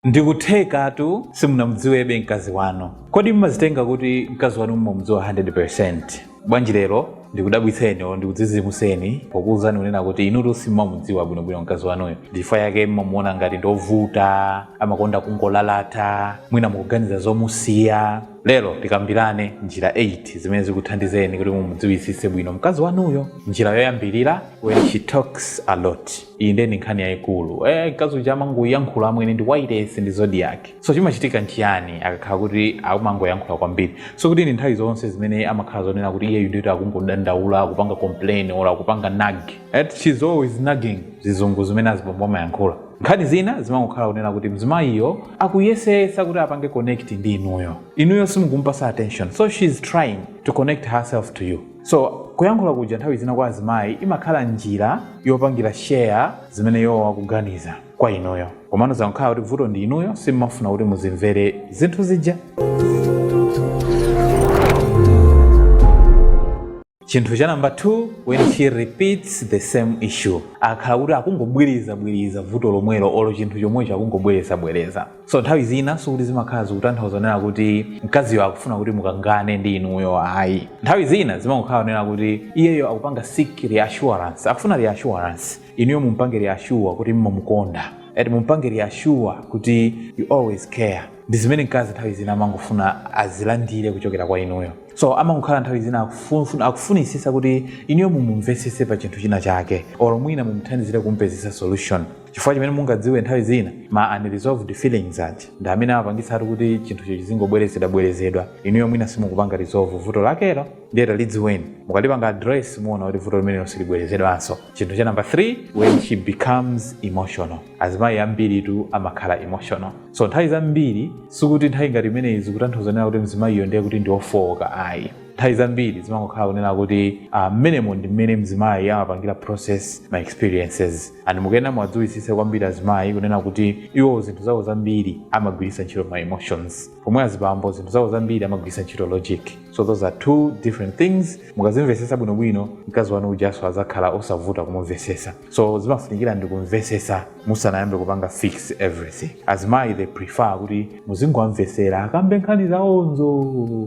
Ndikuthekatu simunamudziwebe mkazi wanu. Kodi mumazitenga kuti mkazi wanu mumamudziwa 100%? Bwanji lero ndikudabwitseni olo ndikudzizimuseni pokuwuzani kunena kuti inutu simumamudziwa bwinobwino mkazi wanuyo ndichifukwa chake mumamuona ngati ndi ovuta amakonda kungolalata mwina mukuganiza zomusiya lero tikambirane njira 8 zimene zikuthandizeni kuti mumudziwitsitse bwino mkazi wanuyo njira yoyambirira when she talks a lot iyi ndiye ndi nkhani yayikulu eh, mkazi uja amangoyankhula amwene ndi wailesi ndi zodiac so chimachitika nchiyani akakhala kuti akumangoyankhula kwambiri sikuti ndi nthawi zonse zimene amakhala zonena kuti iyeyu ndiyoti akungodandaula akupanga complain or akupanga nag eti she's always nagging zizungu zimene azibambo amayankhula nkhani zina zimangokhala kunena kuti mzimayiyo akuyesesa kuti apange connect ndi inuyo inuyo simukumpasa attention so she's trying to connect herself to you so kuyankhula kuja nthawi zina kwa azimayi imakhala njira yopangira share zimene iwowo akuganiza kwa inuyo komano zangokhala kuti vuto ndi inuyo simmafuna kuti muzimvera zinthu zija chinthu cha namba 2 when she repeats the same issue akakhala kuti akungobwereza bwereza vuto lomwelo olo chinthu chomwecho akungobwereza bwereza so nthawi zina sikuti zimakhala zikutanthauza zonena kuti mkaziyo akufuna kuti mukangane ndi inuyo ayi nthawi zina zimangokhala zonena kuti iyeyo akupanga seek reassurance akufuna reassurance inuyo mumpange reassure kuti mmamukonda and mumpange reassure kuti you always care ndi zimene mkazi nthawi zina amangofuna azilandire kuchokera kwa inuyo so amangokhala nthawi zina akufunisisa kuti inuyo mumumvesese pa chinthu china chake or mwina mumuthandizire kumpezesa solution chifukwa chomwe mungadziwe nthawi zina ma unresolved feelings aja ndi amene amapangitsatu kuti chinthucho chizingobwerezedwabwerezedwa inuyo mwina simukupanga resolve vuto lakelo ndiye talidziweni mukalipanga address muona kuti vuto limenelo silibwerezedwanso chinthu cha namba 3 when she becomes emotional azimayi ambiritu amakhala emotional so nthawi zambiri sikuti nthawi ngati imeneyi zikutanthauza zonena kuti mzimayiyo ndiye kuti ndi ofooka ayi nthawi zambiri zimangokhala kunena kuti ah, mmenemo ndi mmene mzimayi amapangira process ma experiences and mukuyenera muwadziwitsitse kwambiri azimayi kunena kuti iwo zinthu zawo zambiri amagwiritsa ntchito ma emotions pomwe azibambo zinthu zawo zambiri amagwiritsa ntchito logic so those are two different things mukazimvetsetsa bwinobwino mkazi wanu ujaso azakhala osavuta kumumvetsetsa so chimafunikira ndikumvesesa musanayambe kupanga fix everything azimayi they prefer kuti muzingowamvesera akambe nkhani zawozo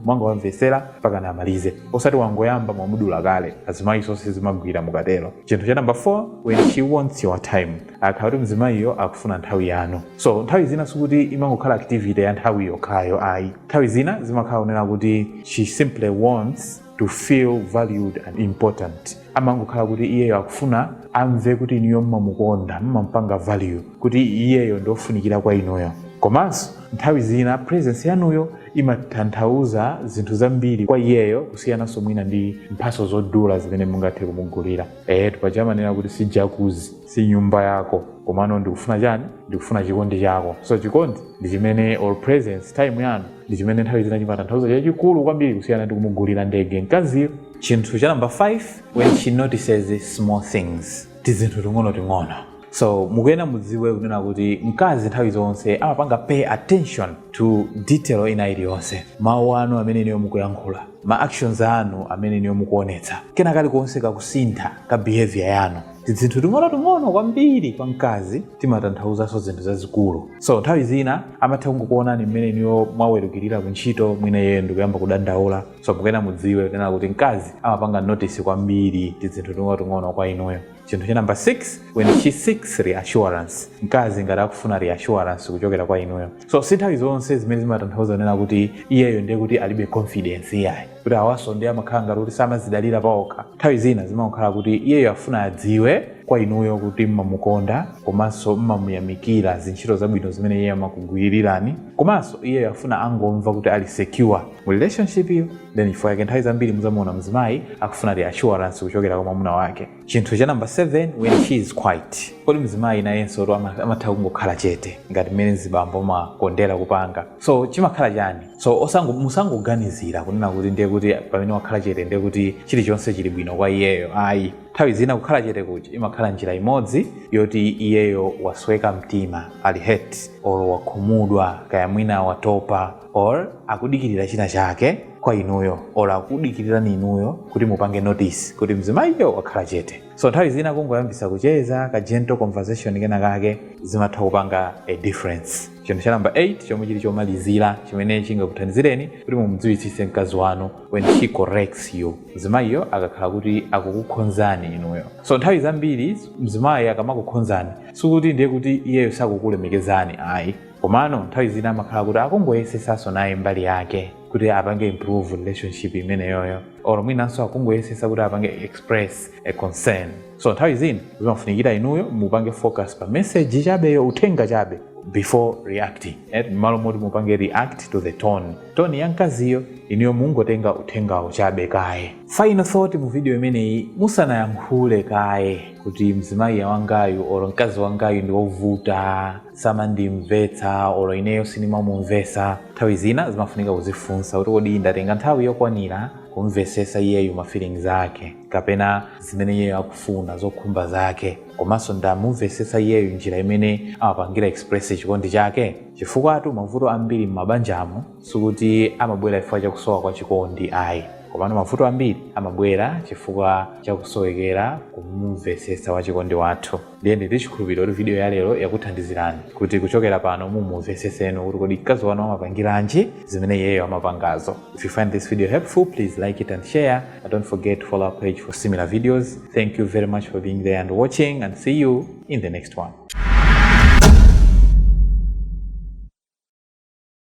mungowamvesera mpaka amalize osati wangoyamba mwamudula kale azimayi sizimagwira mukatero chinthu cha namba 4 when she wants your time akakhala kuti mzimayiyo akufuna nthawi yanu so nthawi zina sikuti imangokhala activity ya nthawi yokhayo ayi nthawi zina zimakhala zonena kuti she simply wants to feel valued and important amangokhala kuti iyeyo akufuna amve kuti inuyo mmamukonda mmampanga value kuti iyeyo ndiofunikira kwa inuyo komanso nthawi zina presence yanuyo imatanthauza zinthu zambiri kwa iyeyo kusiyananso mwina ndi mphatso zodula zimene mungathe kumugulira ehe paja amanena kuti si jakuzi si nyumba yako komano ndikufuna chani ndikufuna chikondi chako so chikondi ndi chimene or presence time yanu ndi chimene nthawi zina chimatanthauza chachikulu kwambiri kusiyana ndi kumugulira ndege mkaziyo chinthu cha namba 5 when she notices small things tizinthu ting'onoting'ono so mukuyenera mudziwe kunena kuti mkazi nthawi zonse amapanga pay attention to detail ina iliyonse mawu anu amene inuyo mukuyankhula ma actions anu amene inuyo mukuonetsa kena kalikonse kakusintha ka behavior yanu tidzinthu ting'onoting'ono kwambiri kwa mkazi timatanthauzanso zinthu zazikulu so nthawi zina amatha kungokuonani mmene inuyo mwawerukira ku ntchito mwina iyeyo ndikuyamba kudandaula so mukuyenera mudziwe kunena kuti mkazi amapanga notice kwambiri tidzinthu ting'onoting'ono kwa inuyo chinthu cha namba 6 when she seeks reassurance mkazi ngati akufuna reassurance kuchokera kwa inuyo so si nthawi zonse zimene zimatanthauza kunena kuti iyeyo ndiye kuti alibe confidence iyayi kuti awanso ndiye amakhala ngati kuti samazidalira paokha nthawi zina zimakhala kuti iyeyo afuna adziwe kwa inuyo kuti mmamukonda komanso mmamuyamikira zintchito zabwino zimene iye amakugwirirani komanso iyeyo afuna angomva kuti ali secure mu relationship iyo nchifukwa yake nthawi zambiri muzamuona mzimayi akufuna reassurance kuchokera kwa mwamuna wake chinthu cha namba 7 when she is quiet kodi mzimayi nayenso to ama- amatha kungokhala chete ngati mmene mzibambo amakondera kupanga so chimakhala chani so osango- musangoganizira kunena kuti ndiye kuti pamene wakhala chete ndiye kuti chilichonse chili bwino kwa iyeyo ayi nthawi zina kukhala chete kuja imakhala njira imodzi yoti iyeyo wasweka mtima ali hurt or wakhumudwa kaya mwina watopa or akudikirira china chake kwa inuyo or akudikirirani inuyo kuti mupange notice kuti mzimayiyo wakhala chete so nthawi zina kungoyambisa kucheza ka gentle conversation kena kake zimatha kupanga a difference chinthu cha namba 8 chomwe chili chomalizira chimene chingakuthandizireni kuti mumdziwitsitse mkazi wanu when she corrects you mzimayiyo akakhala kuti akukukhonzani inuyo so nthawi zambiri mzimayi akamakukhonzani sikuti ndiye kuti iyeyo sakukulemekezani ayi komano nthawi zina amakhala kuti akungoyesetsanso naye mbali yake kuti apange improve relationship imeneyoyo or mwinanso akungoyesetsa kuti apange express a concern so nthawi zina zimafunikira inuyo mupange focus pa message chabeyo uthenga chabe before reacting eh, mmalo moti mupange react to the tone tone ya mkaziyo inuyo mungotenga uthengawo chabe kaye final thought mu video imeneyi musanayankhule kaye kuti mzimayi wangayu or mkazi wangayu ndi wovuta samandimvetsa olo ineyo sindimamumvesa nthawi zina zimafunika kuzifunsa kuti kodi ndatenga nthawi yokwanira kumvesesa iyeyu ma feelings ake kapena zimene iyeyo akufuna zokhumba zake komanso ndamumvesesa iyeyu njira imene amapangira express chikondi chake chifukwatu mavuto ambiri m'mabanjamo sikuti amabwera chifukwa chakusowa kwa chikondi ayi komano mavuto ambiri amabwera chifukwa chakusowekera kumumvesesa wachikondi wathu ndiye ndili ndi chikhulupiriro kuti video ya lero yakuthandizirani kuti kuchokera pano mumumveseseno kuti kodi mkazi wanu amapangiranji zimene iyeyo amapangazo if you find this video helpful please like it and share and don't forget to follow our page for similar videos thank you very much for being there and watching and see you in the next one